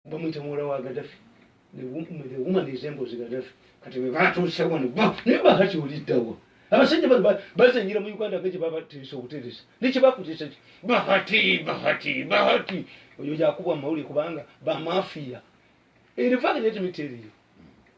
bamuyita muwala wa gadafi the woman is embozi gadafi kati bebatuuse wano naye bahati oliddawa abasajja bano bazanyira mu uganda nga kyebabateresa obuteresa nekyebakuteresa ki bahati bahati bahati oyo yakubwa mumawulire kubanga bamafiya erifaananyi etimiteriyo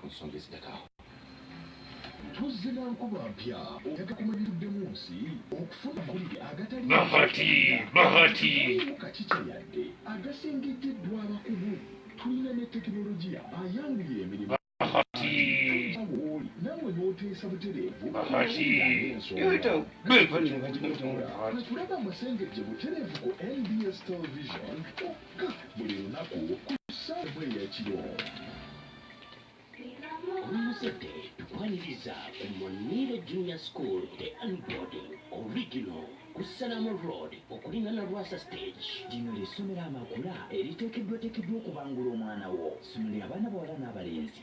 ku nsonga ezidako awo. Tuzze na nkuba mpya oyaga kumanyiddemu nsi okufuna amawulire agatali Bahati, Bahati. kakikye yadde agasengejjeddwa abakugu tulina ne tekinologiya ayanguye emirimu Bahati. wooli nawe n'oteesa butereevu Bahati. Tulaba amasengejje butereevu ku nbs television Ga buli lunaku ku ssaawa emu eyakiro. Omuzadde tukwaniriza ku Muniru Junior School Day and Boarding Original ku Salaama Road okulingana Lwasa Stage. Lino lye ssomero amakula eriteekeddwateekeddwa okubangula omwana wo. Ssomero lya baana bawala n'abalenzi.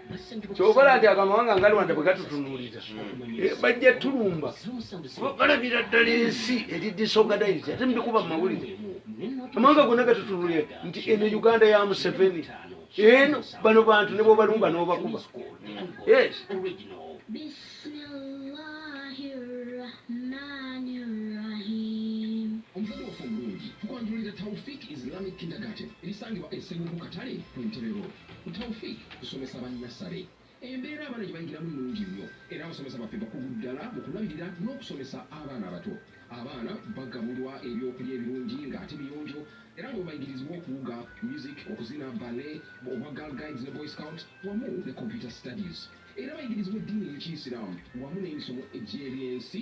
kyokola nti ago amawanga nga rwanda bwe gatutunuulira eh, bajja tulumba balabira ddala ensi eri disorganized ate mubikuba mu mawulire amawanga gonna gatutunuulira nti eno uganda ya museveni eno bano bantu ne bwobalumba n'obakuba yes Tawfik Islamic Kindergarten erisangibwa e Sseguku Katale ku Ntebe Road. Ku Taufiq kusomesa ba nnasale, embeera abaana gye bayigiramu nnungi nnyo era abasomesa baffe bakugu ddala mu kulabirira n'okusomesa abaana abato. Abaana bagabulwa eby'okulya ebirungi ng'ate biyonjo era nga bwe bayigirizibwa okuwuga, music, okuzina, ballet, obwa Girl Guides ne Boy Scout wamu ne Computer Studies. Era bayigirizibwa eddiini y'Ekiyisiraamu wamu n'emisomo egy'ebyensi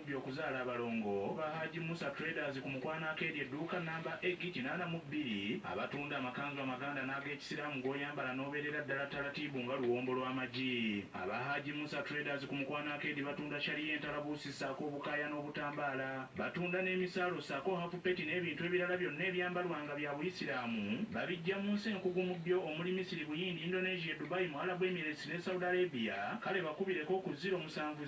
Omukubi okuzaala abalongo ba Haji Musa Traders ku mukwano akeedya edduuka nnamba eg kinaana mu bbiri abatunda amakanzu amaganda n'agekisiraamu g'oyambala n'obeerera ddala ttalatiibu nga luwombo lw'amagi. Aba Haji Musa Traders ku mukwano akeedi batunda Sharia entalabuusi ssaako obukaaya n'obutambaala. Batunda n'emisaalo ssaako hafupeti n'ebintu ebirala byonna ebyambalwa nga bya Buyisiraamu babiggya mu nsi enkugu mu byo omuli Misiri, Buyindi, Indonesia, Dubai, Muarabu Emirates ne Saudi Arabia kale bakubireko ku ziro musanvu.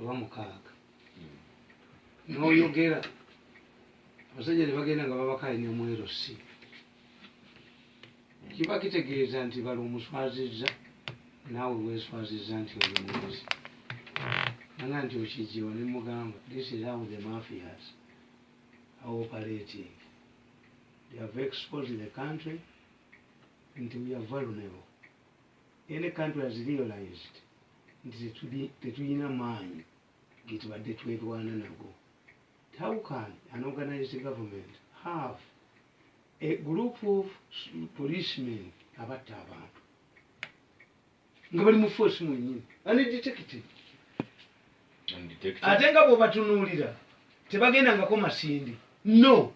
oba mukaaga noyogera abasajja nebagenda nga babakanya mwero si kiba kitegeeza nti bali omuswaziza naawe weswaziza nti olimuzi ana nti okijiwa nemugamba this is how the mafias are operating they have exposed the country nti we are vulnerable any country has realized nti tetulina maanyi getubadde twerwana nago how can an organized government have a group of policemen abatta abantu nga bali mu force mwenyini anedetective ate nga bwobatunuulira tebagendangako masindi no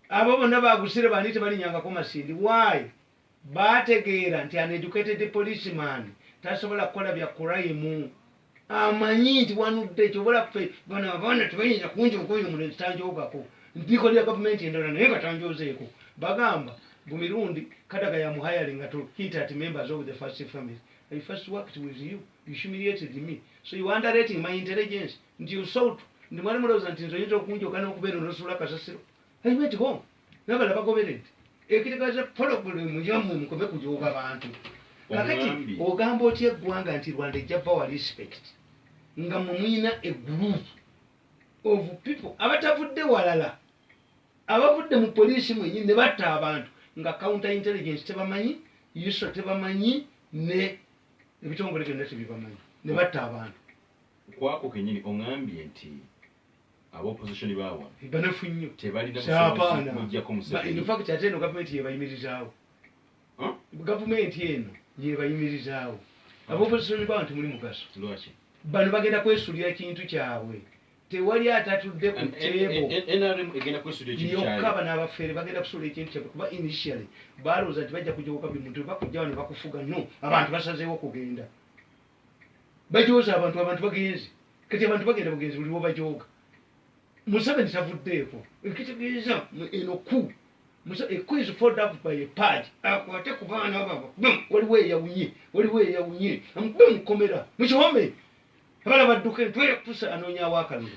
abo bonna bagusire bandi tebalinyangako masindi why Baategeera nti an educated policeman tasobola kukola bya kurayimu. Amanyi nti wanudde kyoba olaba ffe bano abaana tebayinza kunjooga oyo omulenzi tanjoogako. Ndikolera gavumenti endala naye nga tanjoozeeko. Bagamba mbu Mirundi Kadaga yamuhayalinga to hit at members of the first family. I first worked with you, you humiliated me. So you are underrating my intelligence nti you sought nti mwali mulowooza nti nze oyinza okunjooga n'okubeera onosuula kasasiro? aibetiho nabala bagoberede ekitegeeza pologulemu yamwe mukome kujooga bantu kakati ogamba otya eggwanga nti rwanda ejja bawa respect nga mwe muyina egroup of people abatavudde walala abavudde mu poliisi mwenyini ne batta abantu nga counter intelligence tebamanyi iso tebamanyi ne ebitongole byonna tebibamanyi ne batta abantu kwako kenyini ongambye nti Aba opposition bawa. Banafu nnyo. Tebalina busobozi mujjako museveni. In fact ate eno gavumenti yebayimirizaawo. Gavumenti eno yebayimirizaawo. Aba ah. opposition bawa nti muli mugaso. Lwaki? Bano bagenda kwesulira kintu kyabwe. tewali atatudde ku teeboyokka bano abafeere bagenda kusuula ekintu kyabwe kuba initially balowooza nti bajja kujja kuka buli muntu bakujja wano bakufuga no abantu basazeewo kugenda bajooza abantu abantu bagenzi kati abantu bagenda bugenzi buli lwobajooga museveni tavuddeeko ekitegeeza eno ku equiz fold up by a pad akwate ku baana babo bum waliwo eyawunye waliwo eyawunye bum komera mukihome abana badduke twere kutusa anoonya awakalulu